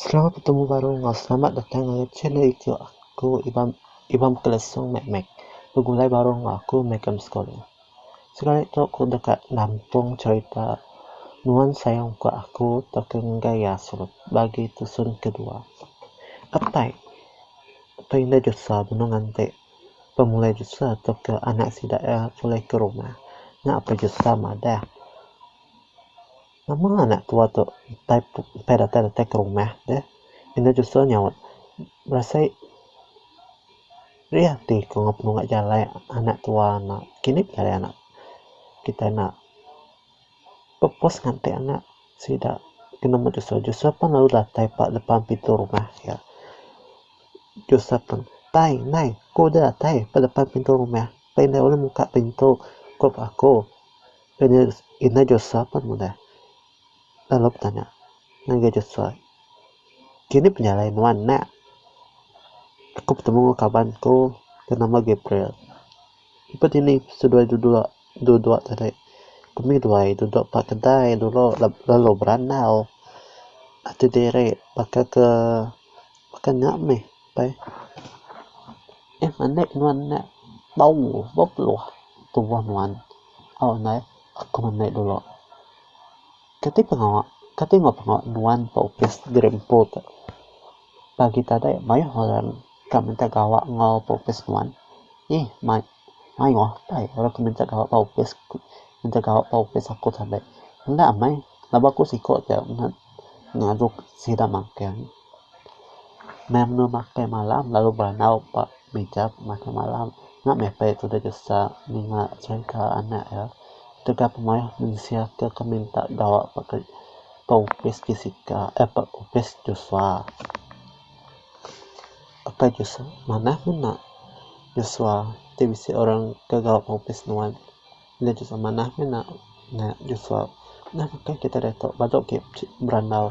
Selamat betemu baru enggau selamat datang ngagai channel iku aku Ibam Ibam Kelesong Mek Mek begulai baru enggau aku meh ke Australia. Sekali tu aku deka nampung cherita nuan sayang ku aku tauka ngagai iya serut bagi tusun kedua. Apai tau indah Joshua benung nganti pemulai Joshua tauka anak sida iya pulai ke rumah nya apai Joshua madah. Nama anak tua tu utai utai datai datai ke rumah deh. Enda jusa nyaut berasai rih ati ku ngaga penungak jalai anak tua nya. Kini kitai anak kitai enda pepus ngatik anak sida ke nemu jusa. Jusa pun lalu datai ba depan pintu rumah iya. Jusa pun tai nai ku deh datai ba depan pintu rumah. Pei deh ulih muka pintu ku aku. Lalu indai Josua pun mudai lalu betanya ngagai Josua, Kini penjalai nuan enda? Aku betemu enggau kaban ku ke nama Gabriel. Ibu dini seduai dudok dudok tadi ku mih duai dudok ba kedai dulu lalu berandau ati diri baka ke baka nya mih. Pai eh manik nuan nya bau bepeluh tubuh nuan au nai aku manik dulu kati pengawa kati enggau pengawa nuan ba opis gerimpun tu pagi tadi mayuh orang ka minta gawa enggau opis nuan ih mai. Mayuh apai orang ke minta gawa ba opis minta gawa ba opis aku tadi enda meh lalu aku siko ja ngadu sida makin meh anu makai malam lalu beranau ba mija makai malam nya meh apai tu deh desa ninga cherita anak iya tegap mayuh mensia ke ke minta gawa ba opis Jessica eh ba opis Joshua. Apai Joshua, Manah menda. Joshua, Ti bisi orang ke gawa pengopis nuan. Enda Joshua, Manah menda. Joshua, Nah baka kita diatu badu ke berandau.